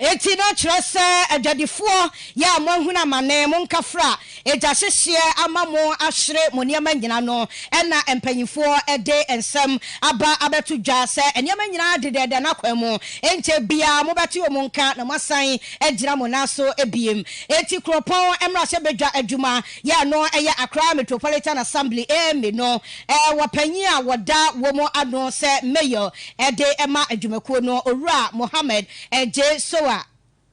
Enti na kyerɛ sɛ adwadifoɔ, yɛ a moahunu amane, mo nkafra, egya hyehyeɛ ama mo ahwere mo nneɛma nyina no, ɛna mpaninfoɔ de nsɛm aba abɛto dwa sɛ nneɛma nyinaa dedɛɛdɛ n'akwan mu, ɛnkyɛ biaa mobɛte wɔn nka na moasan agyina mo nan so biem. Enti Kuropɔn mmarahyɛbadwa adwuma, yɛ a ɛno yɛ Accra Metropolitan Assembly, AMA, no, wɔ panyin a wɔda wɔ mu ano sɛ Mayor, ɛde ma adwumakuo no owura Mohammed J. Sowa.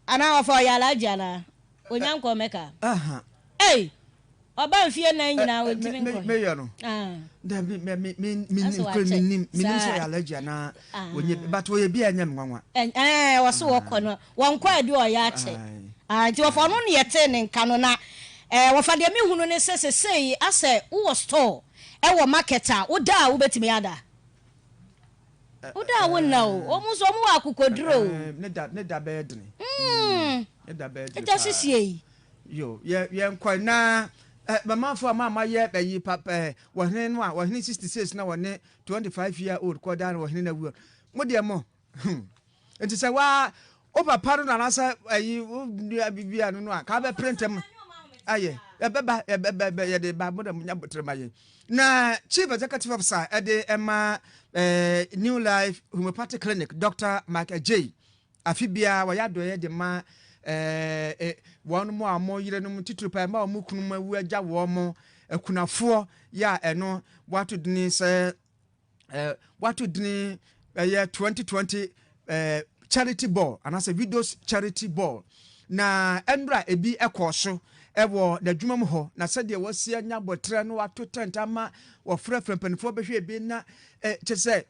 Anaa wɔfa ɔyɛ Alhaji anaa? Ɔnya nkɔɔ Mecca? Ei! Ɔba mfeɛ nnan nyinaa ɔntumi nkɔɔɛ? Asɛ wakyɛ saa? Ɛɛ wɔse wɔkɔ no wɔnkɔɛ deɛ ɔyɛ akyɛ. Ae nti wɔfa ɔno na yɛtee ne nka no na ɛɛ wɔfa deɛ mehunu ne sɛ sesei asɛ wowɔ store ɛwɔ market a woda a wobɛtumi ada? Wo da a wo nna o, wɔn nso wɔn wɔ akokoduro o. Ɛɛ ne da ne da bɛyɛ dene. Mm. Ne da bɛyɛ dene paa. Ɛda sisie yi. Yo yɛ yɛ nkɔ na ɛ mamanfo a maa ma yɛ ɛyi papa ɛ wɔhene no a wɔhene sixty six na wɔne twenty five year old kɔ da no wɔhene na wuo. Mo deɛ mo. Hum. Nti sɛ waa wo papa no nanasɛ ayi wo nua bibi ano no a ka bɛ print mu ayɛ ɛbɛ ba ɛbɛ bɛ bɛ yɛde ba mo na mo nya botire ma yɛn na chief executive officer ɛde ɛma ɛɛ new life homeopathic clinic doctor mark ajay afi biara wɔyɛ adɔyɛ de ma ɛɛ wɔn mo a wɔn yere nom titiri pa ɛma wɔn kunu mu awu agya wɔn mo akunafoɔ yɛ a ɛno wɔato dini sɛ. eh, wato dini ɛyɛ eh, 2020 eh, charity ball anaasɛ widows charity ball na ɛnora ebi ɛkɔɔ so ɛwɔ n'adwuma mu hɔ na sɛdeɛ wɔasi anya abɔterɛ no wato tent ama wɔfrɛfrɛ mpanimfoɔ bɛhwɛ ebi na eh, kyɛ sɛ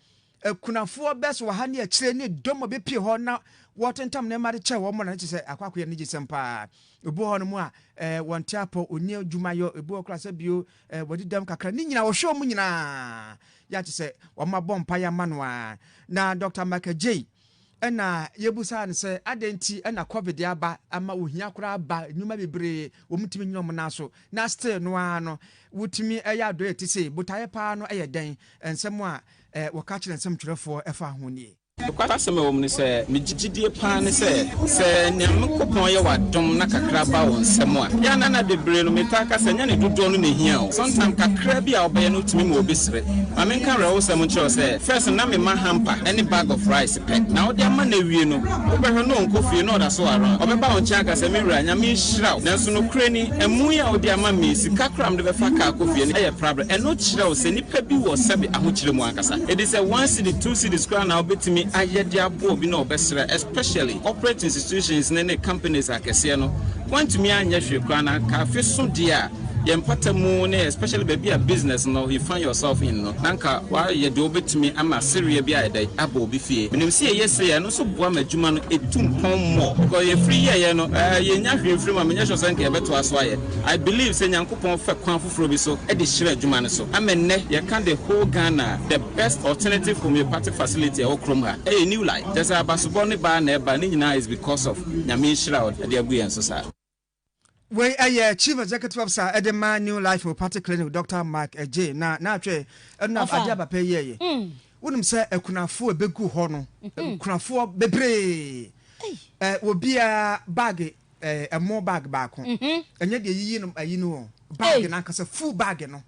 akunafoɔ eh, bɛs wɔ ha ne akyire ne dɔm a bɛpie hɔ na wɔtentam nneɛma de kyɛ wɔn na ne kyɛ sɛ akwakoyɛ no gye sɛm paa ebi hɔ no mu a eh, wɔnte apɔ ɔni adwuma yɔ ebi hɔ koraa sɛ bio Ɛɛ wadi dɛm kakra. Ne nyinaa ɔhwɛ wɔn nyinaa yɛ a te sɛ wɔabɔ mpaeɛ ama no a. Na Dɔkta Michael Jay ɛna yɛbusaa no sɛ adɛn nti ɛna covid aba ama ohia koraa ba nnwuma bebree wɔntumi nyina wɔn nan so na still no ara no wotumi ɛyɛ adɔeɛ te sei botaeɛ paa no ɛyɛ dɛn nsɛm a eh, wɔka kyerɛ nsɛmtwerɛfoɔ ɛfa ho nie. Nokwasɛm a ɛwɔ mu ne sɛ, migye gyidie paa ne sɛ, sɛ Nyankopɔn yɛ w'adom na kakra ba wo nsam a, yɛ a na nna bebree no, metaa ka sɛ, ɛnyɛ ne dodoɔ no na ɛhia o, sometime kakra bi a wobɛyɛ no tumi ma obi sere. Ma menka awerɛhosɛm nkyerɛ wo sɛ, first no na mema hamper ne bag of rice pɛ, na wode ama no awie no, wobɛhwɛ no ɔnkɔ fie na ɔda so around, ɔbɛba wo nkyɛn aka sɛ, me wura, Nyame nhyira wo, nanso nokorɛ ni, amu yi a wode ama me yi, sika koraa a mede bɛfa car akɔ fie no yɛ prabra. Ɛno kyerɛ wo sɛ nipa bi wɔ sɛbe ahokyerɛ mu ankasa. Ɛde sɛ one cedi two cedis koraa na wobɛtumi ayɛ de aboa obi na ɔbɛsrɛ especially corporate institutions no ne companies akɛseɛ no woantumi anyɛ hwee koraa na anka afe so deɛ a yɛn mpata mu ne especially baabi a business no you find yourself in no na anka woayɛ deɛ wobɛtumi ama sereɛ bi ayɛ dɛn aba obi fie. Menim sɛ yɛyɛ sei a ɛno nso boa ma adwuma no ɛtu mpɔn more because yɛfiri yɛeɛ no yɛnnya hwee mfiri mu a menyɛ sure sɛ anka yɛbɛtoa so ayɛ. I believe sɛ Nyankopɔn fɛ kwan foforo bi so de hyira adwuma no so ama nnɛ yɛka the whole Ghana the best alternative homeopathic facility ɛwɔ kurom ha ɛyɛ new life kyerɛ sɛ abasobɔ ne baa na ɛba ne nyinaa is because of Nyame nhyira a ɔde agu yɛn so saa. Wei ɛyɛ Chief Executive Officer ɛde ma New Life Homeopathic Clinic Doctor Mike Adjei na naatwɛ ɛno na adeɛ aba pɛ yɛɛyɛ wonim sɛ akunafoɔ ɛbɛgu hɔ no akunafoɔ bebree wɔ biara baage ɛɛ ɛmo bag baako ɛnyɛ deɛ yiyi no ayi no o bag nankasa full bag no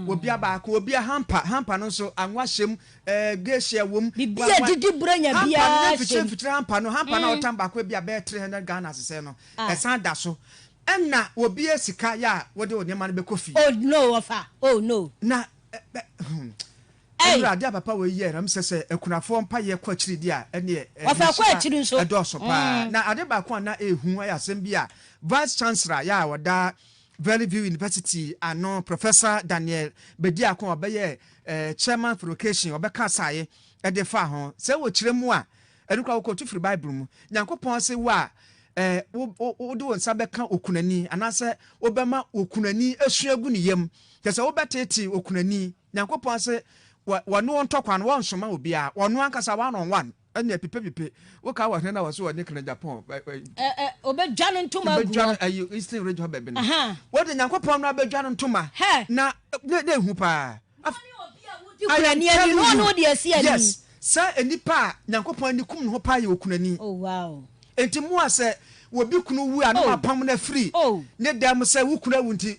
obia baako obia hampa hampa no nso anwa hyɛm ɛɛ geehyɛ wɔm bibi a didi bura nya bia hampa no ne mfitire mfitire hampa no hampa na ɔtam baako ebi abɛɛ three hundred ghana sisɛ no ɛsan da so ɛna obia sika yɛ a wɔde wɔn nneɛma no bɛkɔ fie oh no wɔfa oh no na ɛɛ hmm. Ei! Ewurade a papa wei yɛɛ na mesɛ sɛ akunafoɔ mpaeɛ kɔ akyiri deɛ a ɛneɛ ɛɛ Wɔfa kɔ nhyira akyiri nso. ɛdɔɔso paa. Mm. Na ade baako a na ɛɛhu ayɛ asɛm bi a Vice Chancellor yɛ a ɔda Valley View University ano Professor Daniel Bediako a ɔbɛyɛ ɛɛ Chairman for Education ɔbɛka asaeɛ ɛde faa ho. Sɛ wɔ kyerɛ mu a ɛno koraa wokɔ tu firi Bible mu. Nyankopɔn se wo a ɛɛ wo wo wode wo nsa bɛka okunani anaasɛ wobɛma okunani asua agu ne yam. Kyerɛ sɛ wobɛteetee okunani. Nyankopɔn se wɔ wɔne wo ntɔ kwan, wɔnsoma obiara, wɔno ankasa one on one, ɛne apipepipe. Wo kaa wɔ hene na wɔse wɔne kena Japan, ɛ, ɛ, Ɛ, ɛ, obedwa no ntoma agu bɛdwa hɔ. no ayi Eastern region hɔ baabi no. Ahaa. Wode Nyankopɔn no abɛdwa no ntoma, Hɛ! na na na ehu paa. Af, Wone obi a wodi I am kunani ani, na telling ɔne you, wodi asi ani. yes, saa enipa a Nyankopɔn ani kum ne ho paa yɛ okunani. Oh, wow. Enti mo a sɛ obi kunu wu a na Oh, moapam no afiri oh. ne dan mu sɛ wo kunu awu nti,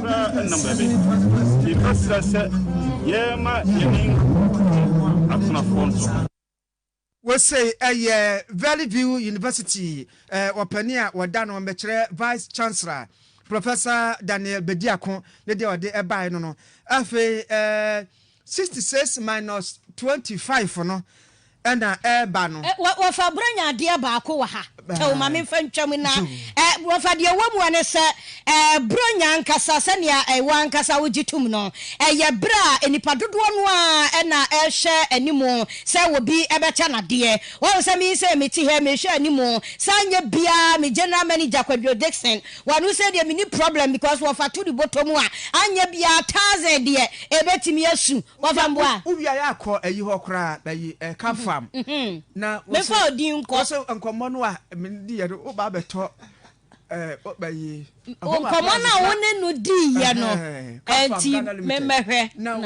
koraa ɛnam baabi. Yɛka srɛ sɛ yɛma yɛne nkurofoɔ atenafoɔ nso. Wesei ɛyɛ Valley View University ɔpanin a wɔda no mmɛkyerɛ Vice Chancellor Professor Daniel Bediako ne deɛ ɔde ɛbaeɛ no no. Afei ɛɛ. Sixty six minus twenty five no na ɛreba no. Ɛ, wɔ, wɔfa Borɔnya adeɛ baako wɔ ha. Kyɛw ma memfa ntwa mu na, ɛ, wɔfa deɛ ɛwɔ mu hɔ ne sɛ, ɛ, Borɔnya ankasa, sɛnea ɛwɔ ankasa wogye tom no, ɛyɛ berɛ a nnipa dodoɔ no ara na ɛrehwɛ anim sɛ obi bɛkyɛ no adeɛ. Woahu sɛ me yi sɛ mete ha yi, mehwɛ anim, saa nyɛ biara me General Manager Kwadwo Dickson, Wano sɛ deɛ menni problem because wɔfa to de bɔtɔ mu a anyɛ biaa thousand deɛ ɛbɛtumi asu wɔfa mboa a. Wo wiaɛ a kɔ ayi hɔ koraa na yi ka farm na wo se wo se nkɔmɔ no a me di yɛ no wo ba bɛ tɔ eh ba yi home appliances na nkɔmɔ no a wo ne no di yɛ no ɛnti me mɛ hwɛ na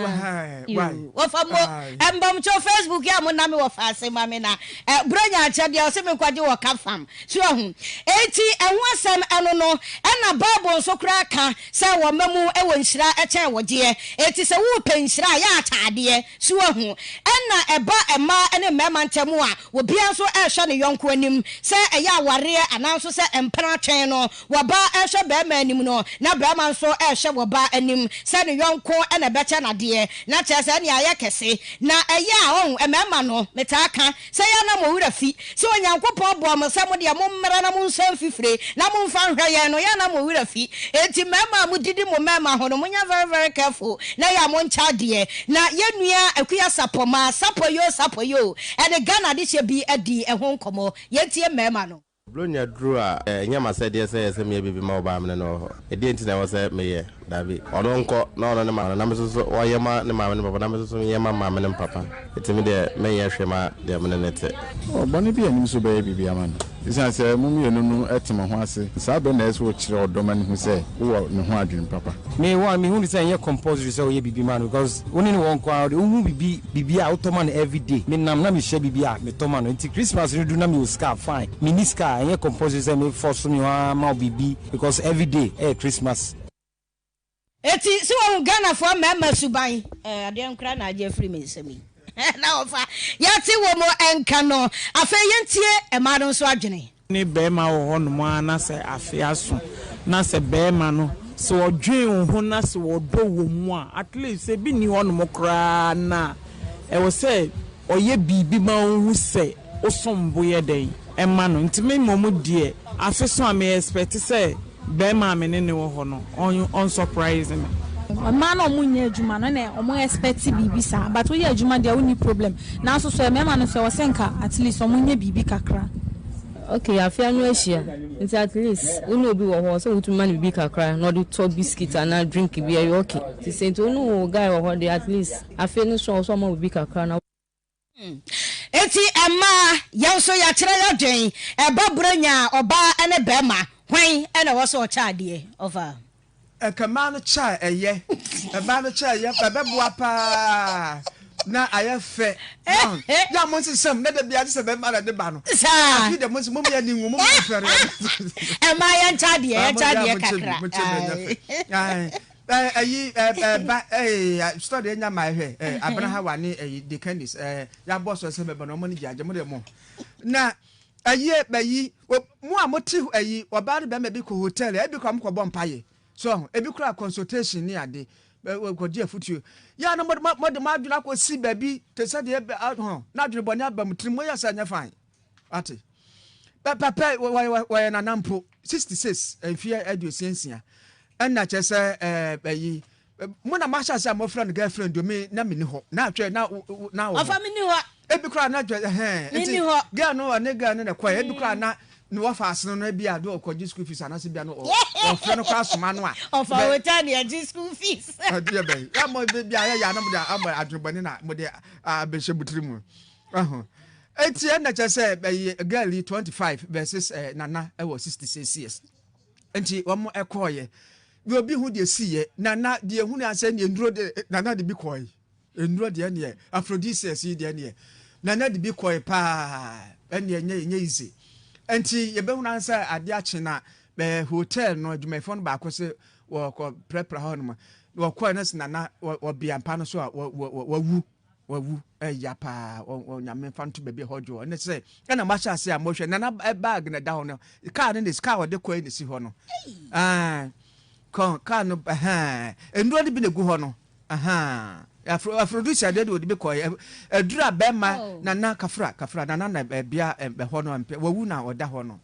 yoo wɔfa mo mbɔmkyɛw facebook yɛ a mo name wɔfa ase ma me na eh brɛ nya akyɛdeɛ ɔse me nkɔgye wɔ ka farm So wahu? Enti ɛho asɛm no no, ɛnna Bible nso koraa ka sɛ wɔn mmamu wɔ nhyira kyɛn wo deɛ. Enti sɛ worepɛ nhyira a, yɛ atadeɛ. So wahu? Ɛnna ɛba mmaa ne mmarima ntam a, obiara nso rehwɛ ne yɔnko anim. Sɛ ɛyɛ awareɛ anaa nso sɛ mpena atwɛn no, ɔbaa rehwɛ barima anim no, na barima nso rehwɛ ɔbaa anim sɛ ne yɔnko na ɛbɛkyɛ no adeɛ. Na kyerɛ sɛ, ɛnneɛ ayɛ kɛse. Na ɛyɛ a, ɔhu, mmarima no, metaa ka, Sɛ yɛn na mo werɛ fi sɛ Onyankopɔn bɔɔ mo sɛ mo deɛ mommra na monsan mfi fire na momfa nhwɛ yɛn no, yɛn na mo werɛ fi. Enti mmarima a modidi mo mmarima ho no, monyɛ very very careful na yɛn a monkyɛ adeɛ. Na yɛn nua Akua Sapɔ maa Sapɔ Yoo Sapɔ Yoo ɛde Ghana adehyeɛ bi adii ɛho nkɔmmɔ. Yɛntie mmarima no. Buronya duru a, ɛnyɛ m'asɛdeɛ sɛ ɛyɛ sɛ meyɛ biribi ma ɔbaa me ne no wɔ hɔ. Ɛdeɛn nti na ɛwɔ sɛ meyɛ? Dabi. Ɔno nkɔ na ɔno ne maame no, na me nso so ɔnyɛ mma ne maame no papa, na me nso so menyɛ mma me maame no papa. Enti me deɛ, merenyɛ hwee mma deɛ me ne no te. Ɔbɔne biara nnim sɛ ɔbɛyɛ biribi ama no. Esiane sɛ mo mmienu no te mo ho ase saa bere no na ɛsɛ sɛ wokyerɛ ɔdɔ ma no hu sɛ wowɔ ne ho adwene papa. Me one, mehu no sɛ ɛnyɛ compulsory sɛ woyɛ biribi ma no because wo ne no wɔ nko ara de, wohu biribi biribi a wotɔ ma no everyday me nam na me hyɛ biribi a me tɔ ma no nti Christmas no du na me wɔ sika a fine me nni sika a ɛnyɛ compulsory sɛ me force me hɔ ara ma wo biribi because everyday ɛyɛ Christmas. Eti sɛ wahu Ghanafoɔ mmarima suban eh adeɛn koraa na agye afiri me nsam yi na wɔfa yɛte wɔ mu nka no afei yɛntie mmaa no nso adwene. wo ne barima wɔ hɔnom ara na sɛ afe aso na sɛ barima no, sɛ ɔdwen wo ho na sɛ ɔdɔ wɔ mu a, at least sɛ ebi nni hɔnom koraa na ɛwɔ sɛ ɔyɛ biribi ma ohu sɛ wosom bo yɛ dɛn ma no. Nti me mmom deɛ, afe so a, me expect sɛ. Bɛɛma a me ne no wɔ hɔ no ɔn surprise me. Mmaa na wɔn nyɛ adwuma no na wɔn expect biribi saa but woyɛ adwuma deɛ wonni problem nanso sɛ mmarima no nso ɛwɔ sɛ nka at least wɔn nyɛ biribi kakra. Okay afei ano ahyia nti at least wo ne obi wɔ hɔ sɛ wotumi ma no biribi kakra na ɔde tɔ biscuit anaa drink bi ɛyɛ okay nti sɛ nti wo ne wo guy wɔ hɔ deɛ at least afei no nso ɛwɔ sɛ ɔma wo biribi kakra na Enti mmaa, yɛn nso yɛakyerɛ yɛadwen, ɛba Buranya a, ɔbaa ne barima, hwan na ɛwɔ sɛ ɔkyɛ adeɛ? Ɔfa. Ɛka mmaa no kyɛ a ɛyɛ. Mmaa no kyɛ a ɛyɛ, ɛbɛboa pa ara na ayɛ fɛ. Wahu? Yɛ a monsesam na da biara gye sɛ barima na ɛde ba no. Saa. Afei deɛ mo nso mommyɛ ani nwu, mommyɛ mfɛreɛ. Mmaa yɛnkyɛ adeɛ, yɛnkyɛ adeɛ kakra. Ae. Eh ayi eh eh ba eh study enya my hwɛ eh abena ha wa ne eh the candies eh ya boss ɔsɛ bɛbɛ na ɔmo ne gyaagya mo de mo na ayi eh ba yi mo a mo te ayi ɔbaa ne bɛma bi kɔ hotel eh bi kɔ ɔmo kɔ bɔ mpa ye so ho ebi kura consultation ne ade kɔ di afutuo ya na mo de mo de mo adwene akɔ si baabi te sɛ deɛ ho na adwene bɔ ne aba mo tiri mo yɛ sɛ nyɛ fine. Ate. Pɛpɛpɛ, wɔyɛ nana mpo. 66, mfeɛ aduosia nsia. Ɛna kyerɛ sɛ, ɛyi, mo na mahyɛ ase a mofrɛ no girlfriend o, me na menni hɔ. Na atwɛ, na na wɔ hɔ. Ɔfa menni hɔ. Ebi koraa na atwɛ, ɛhɛn. Menni hɔ. Girl no, ɔne girl no na ɛkɔɛ. Ebi koraa na ne wɔfa asene no ebi a do ɔkɔgye school fees anaasɛ bi a no ɔfrɛ no koraa soma no a. Ɔfa wota ne agye school fees. Ɛdeɛ bɛn. Yɛ mo bi a yɛ yɛ a na mo de adwene bɔne na mo de abɛhyɛ mo tiri mu. Ɛho. Eti ɛna kyɛ sɛ ɛyɛ girl yi 25 versus eh, nana ɛwɔ 66 years. Nti wɔn ɛkɔɔyɛ. Deɛ obi ho deɛ siiɛ. Nana deɛ hunu asɛ neɛ nduro de eh, nana de bi kɔɔe. Nduro deɛ neɛ aphrodisiacs yi deɛ neɛ nana de bi kɔɔe paa. Ɛneɛ nyɛ nyɛ easy. Nti yɛbɛhunu ansɛ adeɛ akye na eh, hotel no adwumayɛfoɔ no baako se wɔkɔ prɛprɛ hɔ nom. Wɔkɔɔe no se nana wɔ bea mpa no so a wawu. wawu ɛya paa ɔnyame mfa nto baabi ɛhɔ dwoɔ ne sɛ ɛna mahyɛ ase a mohwɛ nana bag na ɛda hɔ no kaa no ne kaa ɔde kɔɛ ne si hɔ no kaa no nnuro no bi na ɛgu hɔ no afrodusia deɛ de ɔde bi kɔɛ aduru a bɛrima oh. nana kafra kafra nana na bia ɛhɔ no mpɛ wawu na ɔda hɔ no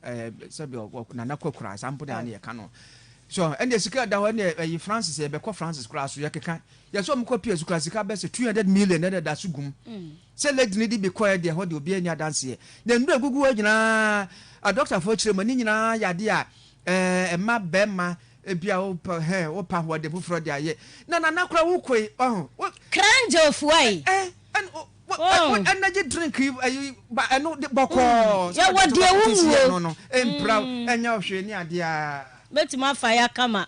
sɛbi nana kɔkura saa mpo de ane yɛka no so ɛnna sika da hɔ ɛnna ɛyi francis yɛbɛkɔ francis koraa so yɛkeka Yɛse ɔmo kɔ PS kura sika bɛsɛ two hundred million na ɛda so gum sɛ lady no de bi kɔɛ deɛ ɛhɔ deɛ obiaa nni adanseɛ na nnuro a ɛgugu hɔ nyinaa a doctor foɔ kyerɛ mu ne nyinaa yɛ adeɛ a ɛɛ ɛma bɛɛma ebia wopɛ hɛ wopɛ ahoɔden foforɔ de ayɛ na nana kora wo koe ɔho wo Krangye Ofuai ɛ ɛ ɛn o wo oh. energy drink yi ɛyi ba ɛno de bɔkɔɔ mm. sɛ yɛwɔ ɛde to deɛ bɔkɔɔ te si yɛ wonwuo no no ɛmpira mm. ɛnyɛ ɔhwee ne adeɛ a. Mɛtumi afa ya kama.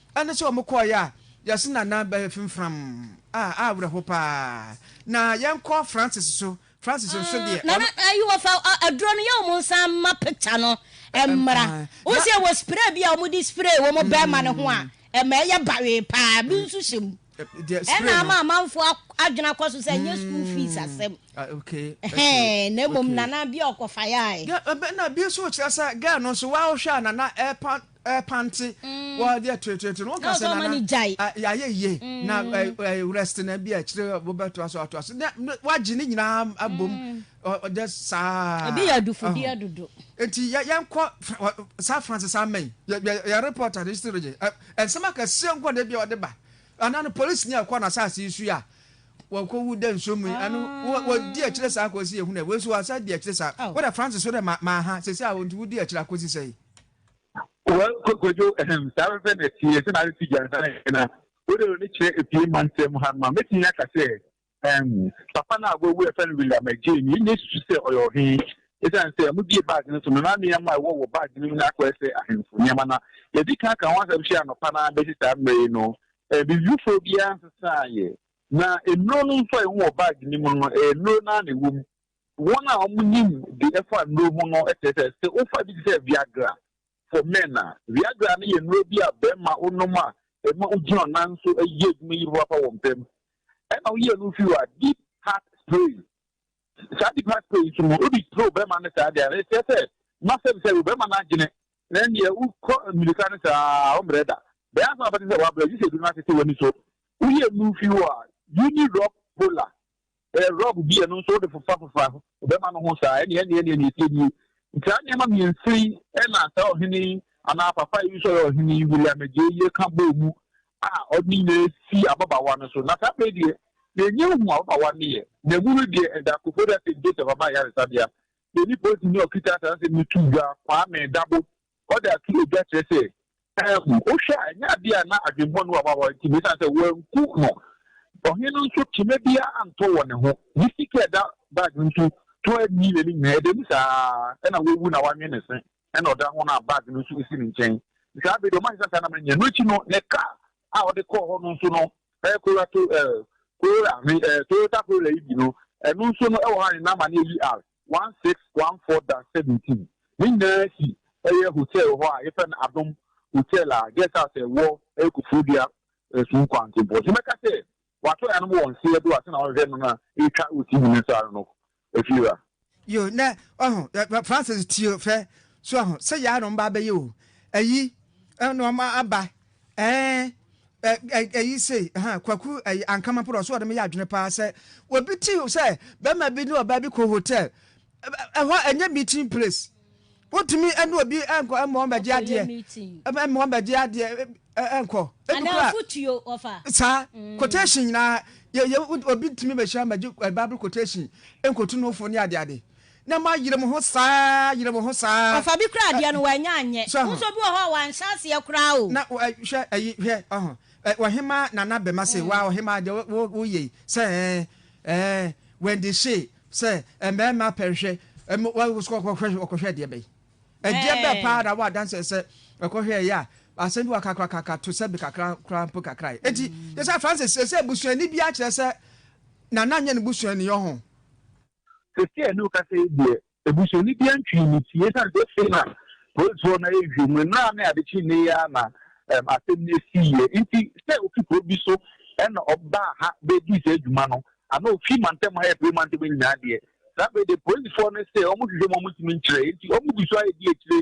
Ɛne sɛ wɔn kɔɔeɛ a yɛse Nana bɛyɛ fimfram a awerɛho paa na yɛnkɔ Francis so Francis nso deɛ ɔno. Nana ayi wɔ fa aduro no yɛ wɔn nsa ma picture no mmra wo se wɔ spray bi a wɔn de spray wɔn bɛɛma no ho a ɛma ɛyɛ bawee paa bi nso hyɛ mu ɛna ama amanfo adwene akɔ so sɛ ɛnyɛ school fees asɛm hɛn na mmom Nana bi a ɔkɔfa yaae. Ɛna bi nso kyerɛ sɛ girl no nso wa ɔhwɛ a Nana ɛpa Ɛpante wɔ adeɛ toetoeto no wo ka sɛ nana yɛayɛ yie na rest na bi a akyire wobɛtoa so atoa so wagye ne nyinaa abom ɔdɛ saa ebi yɛ adufodeɛ dodo nti yɛnkɔ saa France saa mɛn yɛ report ade still gye ɛnsɛm akɛseɛ nkɔ da bi a ɔde ba anaa no polisi ni a ɛkɔ no asase yi so a wɔkɔwu dɛ nsuo mu ɛno wɔdi akyire saa kɔsi yɛhunu wei nso wɔasa di akyire saa wode France so dɛ maaha sɛsi a wɔnti wodi akyire akɔsi sɛi Well Kwadwo ehem saa pɛpɛ na ɛteɛ sɛ na refi gyansa na yɛn na wo de w'ani kyerɛ efie mantam mu hanom a mɛtumi aka sɛ ehem papa no a wawu a yɛfrɛ no William Agyei no yɛnnya susu sɛ ɔyɛ ɔhe esiane sɛ wɔbue bag no so no na nneɛma a ɛwɔ wɔ bag no mu no akɔyɛ sɛ ahemfo nneɛma na yɛadi kan aka ho asɛm hwɛ anɔpa no ara bɛsi saa mmerɛ yi no eh, bibifoɔ biara nsesaeɛ na nnuro no nso a ɛwɔ wɔ bag no mu no ɛyɛ nnuro no ara na ɛwɔ mu Wɔn a wɔnim de ɛfa nnuro ho no kyerɛ sɛ, sɛ wofa bi te sɛ Viagra for men a, Viagra no yɛ nnuro bi a barima nom a ɛma ogyina ɔnan so yɛ adwuma yie papaapa wɔ mpa mu. Ɛna woyɛ no firi hɔ a, deep heart spray, saa deep heart spray yi nso no, wode spray ɔbarima no saa deɛ a, ɛkyerɛ sɛ masɛm sɛ ɔbarima no adwene na ɛnneɛ wokɔ mmirika no saa a, ɔmmerɛ da. Bɛyɛ ansa na wobɛte sɛ wabrɛ gye sɛ aduro no atete w'ani so. Woyɛ no firi hɔ a, Unirop Polar Ɛyɛ rɔb bi a ɛno nso wode fofafofa bɛma no ho saa. Ɛnneɛ ɛnneɛ ɛnneɛ nea ɛteɛ nie. Nti saa nneɛma mmiɛnsa yi na saa ɔhene yi anaa papa yi nso a ɔyɛ ɔhene yi, William Agyei yi ka bɔɔ mu a ɔde ne nyinaa si ababaawa no so. Na saa berɛ yi deɛ, na ɛnyɛ hu ababaawa no yɛ, na ɛmu no deɛ ɛda Koforidua St. Joseph Aban Ayaresabea. Yɛn ni polisini a ɔkita saa nsɛm yi too dwa, Kwame Dabo, Wɔde ato ogya kyerɛ sɛ anwu. Wohwɛ a, ɛnyɛ ade a na adwemmɔne wɔ hɔ a wɔte mu esiane sɛ wɔanku no. Ɔhene no nso, kyima biara antɔ wɔ ne ho. Ne sika a ɛda bag no so tɔ anni n'ani nyinaa. Ɛda mu saa ara na wawu na wɔanwe ne se na ɔda ho na bag no nso si ne nkyɛn. Saa bere de, wɔahyɛ sɛ saa na menyɛ. Ɛno akyi no, ne kar a ɔde kɔɔ hɔ no nso no, ɛyɛ Corolla, Corolla, Toyota Corolla yi bi no, ɛno nso no, ɛwɔ hɔ ara ne number no yɛ UR. One six one four dash seventeen ne nyinaa si ɛyɛ hotel wɔ hɔ a yɛfrɛ no Adom hotel a guest house a ɛwɔ ɛyɛ Kofrodua Ɛsuo Kwantempɔn nti mɛka sɛ wato ɛyanom wɔ nseɛ do a sɛna ɔhwehwɛ no na ɛtwa wɔ TV no saa no ɛfie ra. Yo nɛ ɔho Francis tio fɛ so ɔho sɛ yanom ba bɛyɛ o ɛyi ɛna ɔma aba Ɛɛ ɛ ɛ ɛyi sei ɛhɛn kwaku ɛyi ankama poro ɔso ɔde me yɛ adwene paa sɛ obi ti sɛ bɛrima bi ne ɔbaa bi kɔ hotel ɛhɔ ɛnyɛ meeting place wotumi ɛne obi ɛnkɔ ɛmɔ wɔn bɛgye adeɛ ɛmɔ wɔn bɛgye adeɛ ɛnkɔ ebi kura saa mm. quotation nyinaa yɛ yɛ obi tumi bɛhyia bɛgye bible quotation nkotu no fo ne adeade. Na ma yere mo ho saa, yere mo ho saa. Ɔfa bi koraa deɛ no wannya anyɛ. Wo nso bi wɔ hɔ a wanhyɛ aseɛ koraa o. Na hwɛ ayi hwɛ ɔho ɔhemaa Nana Bɛma se waa ɔhemaa deɛ wo wo wo yei sɛ ɛɛn ɛɛn Wendy se sɛ mmarima pɛ nhwɛ ɛm wa wo so ɔkɔ hwɛ ɔkɔ hwɛ deɛ bɛyi ɛdeɛ bɛɛ paa na wo adanseɛ sɛ ɔkɔ hwɛ ɛyɛ a asɛm bi wɔ ka kora kaka to sɛ bi kakra koraa mpo kakra yɛ enti yɛ sɛ Francis sɛ sɛ busuani biara kyerɛ sɛ Nana nyɛ ne busuani ɔho Sɛsi a yɛne wo kasa yi deɛ, abusuani biara ntwii ne ti ɛsiane sɛ afei na polisfoɔ no ayɛ nhwehwɛmu. Nnora ne ade kye nnɛ yi ara na asɛm no siiɛ. Nti sɛ ofi kuro bi so na ɔbaa ha bɛredii saa dwuma no, anaa ofi mantam ha repue mantam nyinaa deɛ, saa berɛ deɛ polisfoɔ no se wɔhwehwɛ mu a wɔntumi nkyerɛ. Enti wɔgu so ara redi akyire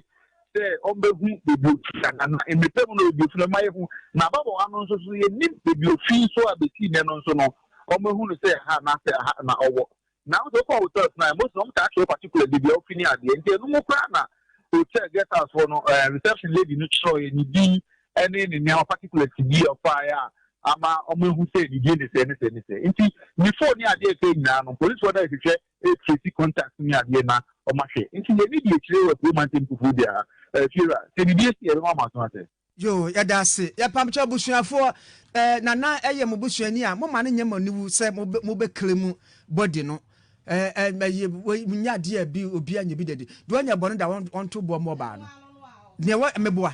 sɛ ɔmbehu beebi ofi ana, na mbepɛ mu na oedu fi no, mma yehu n'ababɔw ano nso so yennyim beebi ofi so a besi ndɛ no nso no, ɔmmehu no sɛ ha anaasɛ ha na ɔwɔ. Naaso ɔkɔr Hotel Sinai, Mose na ɔmmkaa kyerɛw particular beebi a ofi ne adze, ntsi eno mu koraa na Hotel guest house hɔ no reception lady no kyerɛwee ne dzin ne ne ndzɛmba particulars bi a ɔfaae a ama ɔmehu sɛ ne dzin ne sɛ ne sɛ ne sɛ. Ntsi ne phone ne adze a ɔkãe nyina no, polisifo no rehwehwɛ e tracy contacts ne adeɛ na ɔma hwɛ nti yɛ ne deɛ kyire wɔ kuro mantam fufuo biara eh fiewura sɛ biribi asi a yɛbɛma mo aso asɛ. Yoo yɛda ase yɛ pam kyɛw busuafoɔ eh nana ɛyɛ mo busuani a mo ma no nyɛ mo aniwu sɛ mo bɛ mo bɛ claim body no eh eh ɛyɛ wei nyɛ adeɛ a bi obiara nyɛ bi da di deɛ ɔnyɛ bɔne da wɔn wɔnto boɔ ma ɔbaa no deɛ wɔ meboa.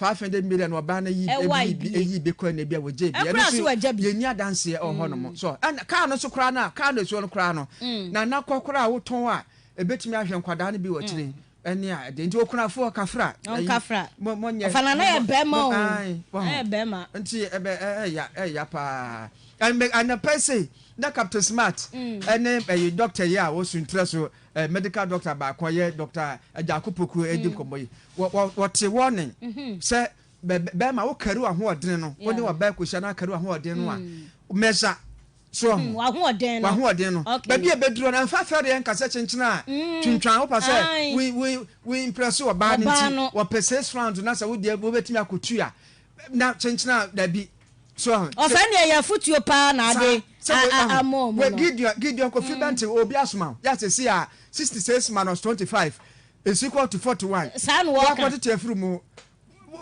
Faafɛdɛ mberɛ no ɔbaa no yii bi yii bi yii bi kɔɛ na ebia wɔgyɛɛ bi ɛno nso yɛnni adanseɛ wɔ hɔnom so ɛna kaa no nso koraa no a kaa no ɛsuo no koraa no na na kɔ koraa a wotɔn a ɛbɛtumi ahwɛ nkwadaa no bi wɔ akyire ɛne a ɛde nti okunafoɔ kafra ɛyi mo mo nyɛ ɔfana na yɛ bɛrima o na yɛ bɛrima nti ɛbɛ ɛya ɛya paa ɛnbɛ anapɛ sei na captain smart ɛne ɛyi doctor yi a wɔsuntrɛ so Medical doctor baako a ɔyɛ Doctor Agyarko Poku redi nkɔmmɔ yi. Wɔte warning sɛ bɛrima wo carry w'ahoɔden no, wo ne ɔbaa kɔhyia na carry w'ahoɔden no a, measure so ɔho. W'ahoɔden no. W'ahoɔden no. Baabi a ɛbɛduru no, ɛmfa fɛreɛ nkasɛ kyenkyene a twintwan, wopɛ sɛ wo impress ɔbaa no nti, wɔpɛ six rounds na sɛ wo deɛ wobɛtumi akɔtu a, na kyenkyene a dabi. ɔfɛ neɛ yɛ afotuo paa na ade amɔ ɔmo no. Gideon Gideon kofi bɛ nti obi asoma o yɛ asɛ si a sixty six minus twenty five is equal to forty one. Saa na wɔka. Wakɔ tete afiri mu.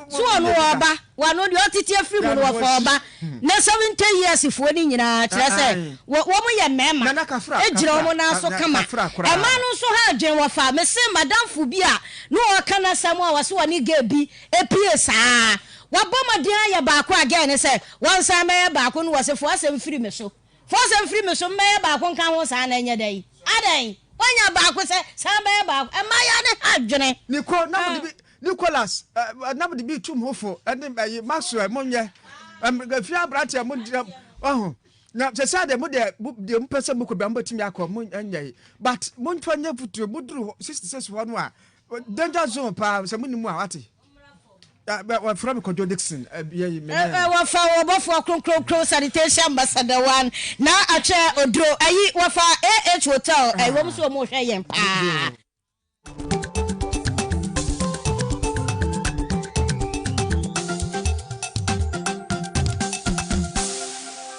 So wɔn wɔ ɔba wɔn ano deɛ ɔtete afiri mu no wɔfa ɔba na seventy years foɔ ne nyinaa kyerɛ sɛ wɔn yɛ mmarima egyina wɔn nan so kama ɛmaa no nso ha adwene wɔfa mese madamfo bi a na ɔka n'asɛm a wɔse wɔne gay bi Epue saa. Wabɔ mmɔden ayɛ baako a gɛɛ ne sɛ wɔnsan mmɛyɛ baako no wɔse fo asɛm firi me so. Fo asɛm firi me so mmɛyɛ baako nka ho saa na ɛnyɛ dɛ yi. Adɛn? Woanya baako sɛ san bɛyɛ baako. Ɛmaayaa ne ha dwene. Niko, na mode bi, Nicholas, eh, na mode bi tum ho fo, ɛne ɛyi, Maxwell, monyɛ, ɛm, ɛfie abranteɛ mo ngyina, waho, na sɛsɛ deɛ mo deɛ, mo deɛ mo pɛ sɛ mo kɔ bia mo bɛtumi akɔ, mo ɛnyɛ yi, but mo nfa nyɛ futuro, mo duru hɔ, 66 hɔ no a, Danger zone paa sɛ monim a wate. Wɔfrɛ me Kwadwo Dixon. Wɔfa wɔbɔfoɔ kronkronkron sanitation ambassador one na atwɛ oduro ayi wɔfa AH hotel ɛyi wɔn so wɔn hwɛ yɛn paa.